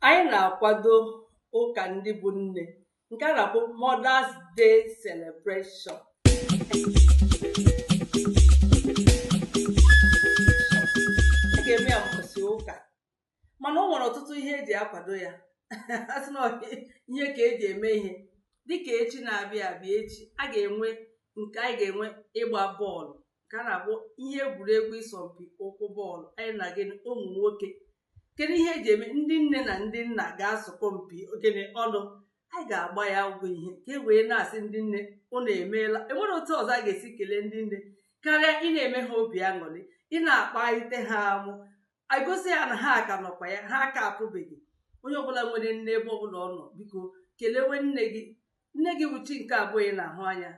Anyị na-akwado ụka ndị bụ nne nke a na-akpọ Mother's Day Celebration. A ga-eme ya mbọsị ụka mana o nwere ọtụtụ ihe eji akwado ya asị na ihe ka eji eme ihe dịka echi na-abịa abịa echi a ga-enwe nke anyị ga-enwe ịgba bọọlụ nke a na-akpọ ihe egwuregwu ịsọmpi ụkwụ bọọlụ anyị na gịnị ụmụ nwoke kedu ihe ga-eme ndị nne na ndị nna ga-asọkọ mpi gịnị ọnụ anyị ga-agba ya ụgwọ ihe ka e wee na-asị ndị nne unu emeela enwere otu ọzọ a ga-esi kelee ndị nne karịa ị na-eme ha obi aṅụrị ị na-akpalite ha amụ igosi ha na ha ka nọkwa ya ha aka apụbeghị onye ọbụla nwere nne ebe ọbụla ọ nọ biko kelewe nne gị nne gị bụ chi nke abụọ ị na-ahụ anya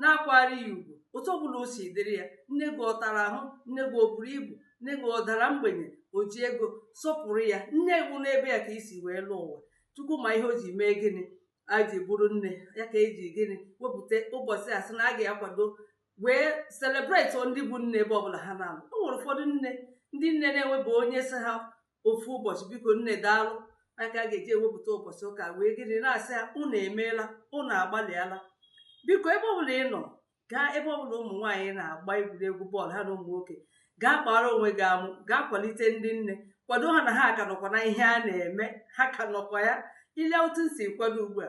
na-akwara ya ugwu otu ọbụla o si dịrị ya nne gị ọ tara ahụ nne gị o buru ibu nne gị ọ dara mgbenye o ji ego sọpụrụ ya nne gị n'ebe ya ka i si wee lọọ ụwa chukwu ma ihe o ji mee gịnị a ji bụrụ nne ya ka eji gịnị wepụta ụbọchị asị na a ga-akwado wee celebrate ndị bụ nne ebe ọbụla ha na-anọ o nwere ụfọdụ nne ndị nne na-enweba onye sị ha ofu ụbọchị biko nne daalụ ya ka a ga-eji ewepụta ụbọchị ụka wee gịnị na-asị ha unu emeela unu agbalịala biko ebe ọbụla ị nọ gaa ebe ọbụla ụmụ nwaanyị na-agba egwuregwu bọọlụ ha na ụmụ nwoke gaa kpara onwe gị amụ gaa kwalite ndị nne kwado ha na ha ka nọkwa na ihe a na-eme ha ka nọkwa ya i lee otu m si kwado ugbu a